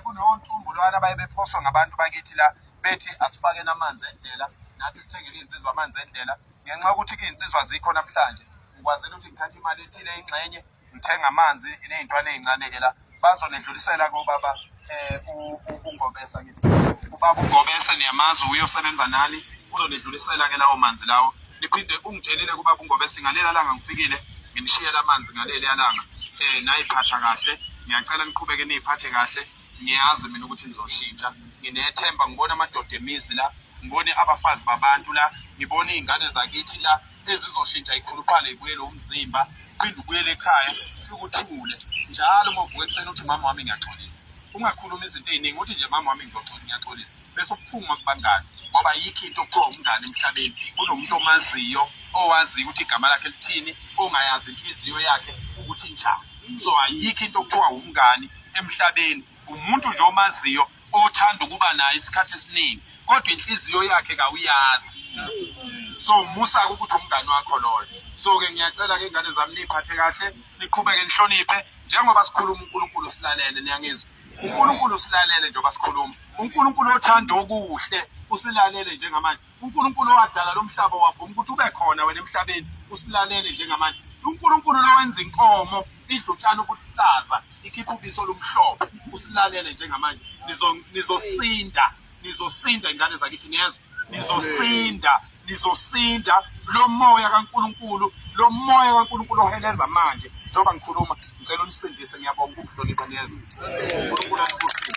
kunonsumbulwana baye bephoswa ngabantu bakithi la bethi asifakeni amanzi endlela nathi sithengele iy'nsizwa amanzi endlela ngenxa yokuthi iy'nsizwa zikho namhlanje ngikwazile ukuthi ngithathe imali ethile ingxenye ngithenga amanzi ney'ntwana ey'ncane-ke la bazonedlulisela kobaba um ungobesa ngithi ubaba ungobese niyamazi uyosebenza nani uzonedlulisela-ke lawo manzi lawo Niphinde ungitshelile kuba kungobese ngaleli alanga ngifikile nginishiyela amanzi ngaleli alanga um nayiphatha kahle ngiyacela niqhubeke niyiphathe kahle ngiyazi mina ukuthi nizoshintsha nginethemba ngibona amadoda emizi la ngibone abafazi babantu la ngibone iy'ngane zakithi la ezizoshintsha ikhuluphale ibuyele umzimba phinde ubuyele ekhaya fike uthule njalo uma uvuka ekuseni uthi mama wami ngiyaxolisa ungakhulumi izinto ey'ningi uthi nje mama wami ngizoxolisa ngiyaxolisa bese uphuma kubangani ngoba yikho into okuthiwa umngane emhlabeni kunomuntu omaziyo owaziyo ukuthi igama lakhe lithini ongayazi inhliziyo yakhe ukuthi njani so ayikho into okuthiwa umngani emhlabeni umuntu nje omaziyo othanda ukuba naye isikhathi esiningi kodwa inhliziyo yakhe kawuyazi so musa-ke ukuthi umngani wakho loyo so-ke ngiyacela-ke ingane zami niyiphathe kahle niqhubeke nihloniphe njengoba sikhuluma unkulunkulu silalele niyangizwa uNkulunkulu usilalele njengoba sikhuluma uNkulunkulu othanda okuhle usilalele njengamanje uNkulunkulu owadala lo mhlaba wavuma ukuthi ube khona wena emhlabeni usilalele njengamanje uNkulunkulu lowenza inkomo idla utshani obuhlaza ikhipha ubiso olumhlophe usilalele njengamanje nizosinda nizosinda ingane zakithi niyezwa nizosinda nizosinda lo moya kaNkuluNkulu lo moya kaNkuluNkulu oheleza manje njengoba ngikhuluma ngicela unisindise ngiyabonga ukuhlonipha niyezwa uNkuluNkulu akubusise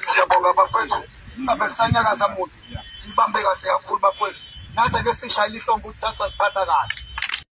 siyabonga bafethu ingabe kusanyakaza muntu sibambe kahle kakhulu bafethu nathi ake sishayile ihlombe ukuthi sasiphatha kahle